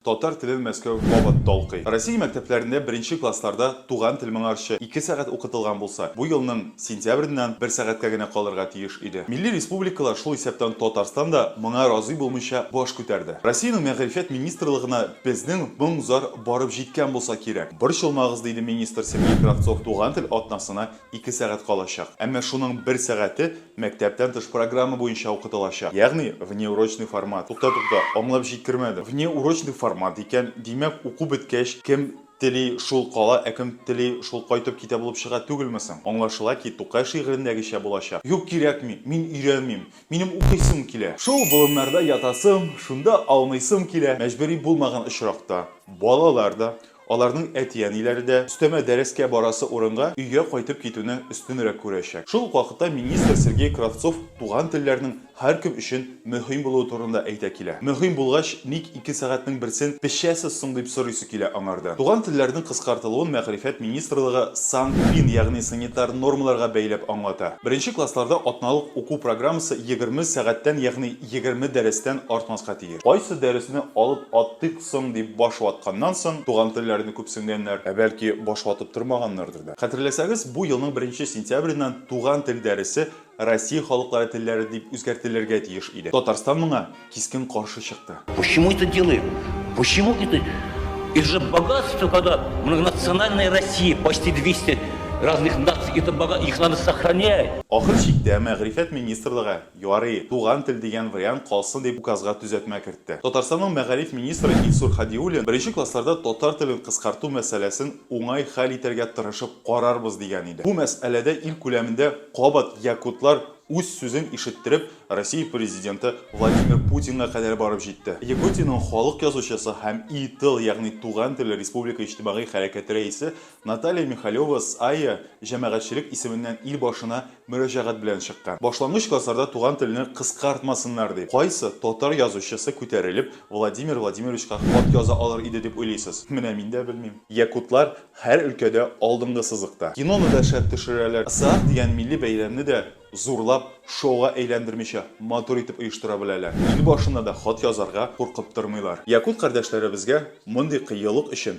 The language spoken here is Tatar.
Татар телен Мәскәү кабат талкый. Россия мәктәпләрендә беренче классларда туган тел моңарчы ике сәгать укытылган булса, бу елның сентябреннән бер сәгатькә генә калырга тиеш иде. Милли республикалар, шул исәптән Татарстан да, моңа разый булмыйча баш күтәрде. Россиянең мәгърифәт министрлыгына безнең моң-зар барып җиткән булса кирәк. Борчылмагыз, диде министр Сергей Кравцов туган тел атнасына Ике сәгать калачак. Әмма шуның бер сәгате мәктәптән тыш программа буенча укытылачак. Ягъни, внеурочный формат. Тукта, тукта, аңлап җиткермәдем. Внеурочный формат икән, димәк, уку беткәч, кем тели, шул кала, ә кем тели, шул кайтып китә булып чыга түгелме соң? Аңлашыла ки, Тукай шигырендәгечә булачак. Юк, кирәкми, мин өйрәнмим. Минем укыйсым килә. Шул болыннарда ятасым, шунда аунысым килә. Мәҗбүри булмаган очракта, балалар да, Аларның әти-әниләре дә, өстәмә дәрескә барасы урынга, өйгә кайтып китүне өстенрәк күрәчәк. Шул ук вакытта министр Сергей Кравцов туган телләрнең һәркем өчен мөһим булуы турында әйтә килә. Мөһим булгач, ник ике сәгатьнең берсен пешәсез соң, дип сорыйсы килә аңардан. Туган телләрнең кыскартылуын Мәгърифәт министрлыгы сан-фин, ягъни санитар нормаларга бәйләп аңлата. Беренче классларда атналык уку программасы егерме сәгатьтән, ягъни егерме дәрестән артмаска тиеш. Кайсы дәресне алып аттыйк соң, дип баш ватканнан соң, туган телләрне күпсенгәннәр, ә бәлки баш ватып тормаганнардыр да. Хәтерләсәгез, бу елның беренче сентябреннән туган тел дәресе Россия халыклары телләре дип үзгәртелергә тиеш иде. Татарстан моңа кискен каршы чыкты. Почему это делаем? Почему это? Это же богатство, когда многонациональная Россия, почти 200 разных наций, это бога, их надо сохранять. Ахыр чиктә, мәгърифәт министрлыгы Ярый, туган тел дигән вариант калсын дип указга төзәтмә кертте. Татарстанның мәгариф министры Илсур Һадиуллин беренче классларда татар телен кыскарту мәсьәләсен уңай хәл итәргә тырышып карарбыз дигән иде. Бу мәсьәләдә ил күләмендә кабат якутлар үз сүзен ишеттереп, Россия Президенты Владимир Путинга кадәр барып җитте. Якутиянең халык язучысы һәм И-тыл, ягъни Туган тел республика иҗтимагый хәрәкәте рәисе Наталья Михалева САЕ җәмәгатьчелек исеменнән ил башына мөрәҗәгать белән чыккан. Башлангыч классларда туган телне кыскартмасыннар дип, кайсы татар язучысы күтәрелеп Владимир Владимировичка хат яза алыр иде дип уйлыйсыз? Менә мин дә белмим. Якутлар һәр өлкәдә алдынгы сызыкта. Киноны да шәп төшерәләр. Ысаак дигән милли бәйрәмне дә зурлап, шоуга әйләндермичә, матур итеп оештыра беләләр. Ил башына да хат язарга куркып тормыйлар. Якут кардәшләребезгә мондый кыюлык өчен